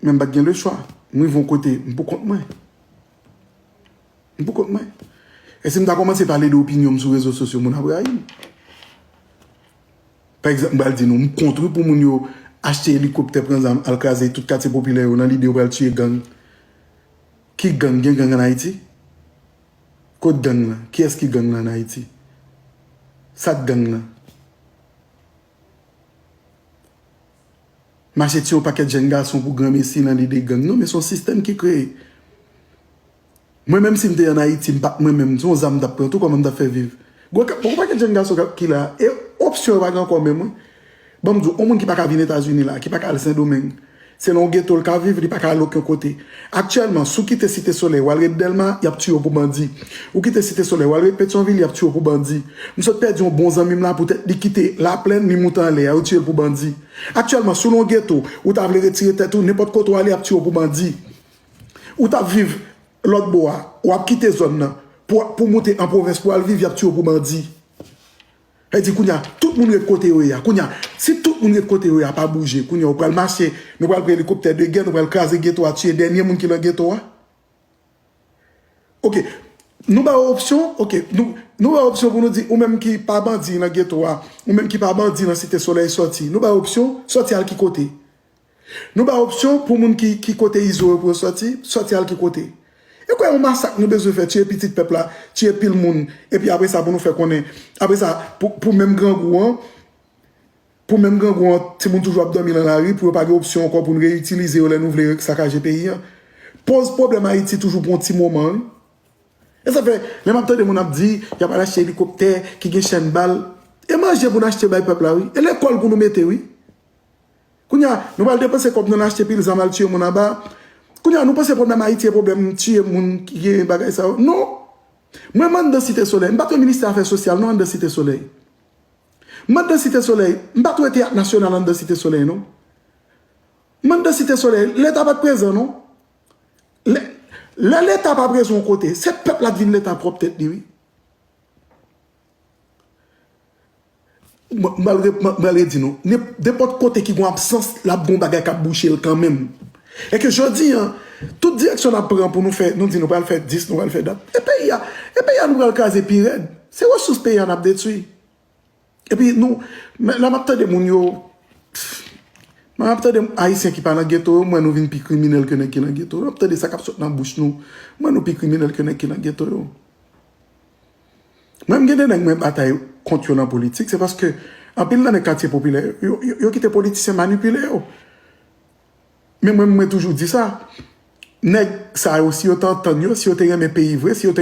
Men m pa t gen le chwa. M rive yon kote, m pou kont mwen. M pou kont mwen. E si m ta kòmanse pale de opinyon m sou rezo sosyo, moun ap rayi m. Pa egzanp, m pral di nou, m kont wi pou moun yo achte elikoptè, pran zam, al kraze tout katye popilè yo nan lide yo pral tiye gang. Ki gang? Gen gang an Ayiti? Kot gang lan? Kiyès ki gang lan an Ayiti? Sa k gang lan? mache tiye yon pakèt jèn gason pou granmesi nan lide gang non men son sistèm ki kreye mwen menm sim te an ayiti m pat mwen menm son zam m tap pran tou kòman m tap fè viv gwo kap gwo pakèt jèn gason kap kila e opsyon yo pa gen ankò menm wi banm diw on moun ki paka vin etazini la ki paka al sendomeng Se nan yon geto l ka viv, li pa ka al oken kote. Aktyèlman, si w kite Site Solèy, w al ret Dèlma, y ap tiye w pou bandi. Ou kite Site Solèy, w al ret Petyonvil, y ap tiye w pou bandi. M sot pèdi yon bon zanmi m la poutèt li kite Laplèn, li moute anlè a, yo tiye l pou bandi. Aktyèlman, si w nan yon geto, ou ta vle retire tèt ou, nenpòt kote w ale, y ap tiye w pou bandi. Ou t ap viv lòt bò a, w ap kite zòn nan pou w moute an pwovens pou w al viv, y ap tiye w pou bandi. Sa di kounya tout moun ret kote yo ye a kounya si tout moun ret kote yo ye a pa bouje kounya yo pral mache nou pral pran elikoptè de gè nou pral kraze geto a tiye dènye moun ki lan geto a ok nou ba ou opsyon ok nou ba ou opsyon pou nou di ou menm ki pa bandi lan geto a ou menm ki pa bandi lan site solèy sòti nou ba ou opsyon sòti al ki kote Nou bay opsyon pou moun ki ki kote izo yo pou yo sòti, sòti al ki kote? E kwe yon masak nou bezwen fè, tiye pitit pèp la, tiye pil moun, epi apre sa pou nou fè konnen, apre sa pou pou menm grangou an, pou menm grangou an timoun toujou ap dòmi lan lari pou yo pa gen opsyon ankò pou nou reyitilize yo lè nou vle sakaje peyi an. Poz pwoblèm Ayiti toujou pou yon ti moman wi. E sa fè lè map tande moun ap di yap al achte elikoptè ki gen chèn bal, e manje pou nou achte bay pèp la wi, e lekòl pou nou mete wi. Kounye a, nou pral depanse kòb nou nan achte pil zam al tiye moun anba. Kounye a, nou panse pwoblèm Ayiti e pwoblèm tiye moun ki gen bagay sa yo. Non! Mwen m anndan Site Solèy. M pa t wè Ministè Afè Sosyal non anndan Site Solèy. M anndan Site Solèy. M pa t wè Teyat Nasyonal anndan Site Solèy non. M anndan Site Solèy. Leta pa t prezan non. Lè, lè Leta pa prezan yon kote, se pèp la k vin Leta pwòp tèt li wi. Mwen al redi nou, nenpòt kote ki gon absans, l ap gon bagay k ap bouche l kanmenm. E ke jodi an, tout direksyon n ap pran pou nou fè, nou di nou pral fè dis, nou pral fè dat. E peyi a, e peyi a nou pral kraze pi rèd. Se resous peyi a n ap detwi. E pi nou, la m ap tande moun yo, la m ap tande Ayisyen ki pa lan geto yo, mwen nou vin pi kriminèl ke nèg ki lan geto yo. M ap tande sa k ap sot lan bouch nou, mwen nou pi kriminèl ke nèg ki lan geto yo. Mwen m gen 2 nèg mwen batay kont yo nan politik se paske anpil nan nèg katye popilè yo yo kite politisyen manipile yo men mwen mwen toujou di sa nèg sa yo si yo te antann yo si yo te renmen peyi vre si yo te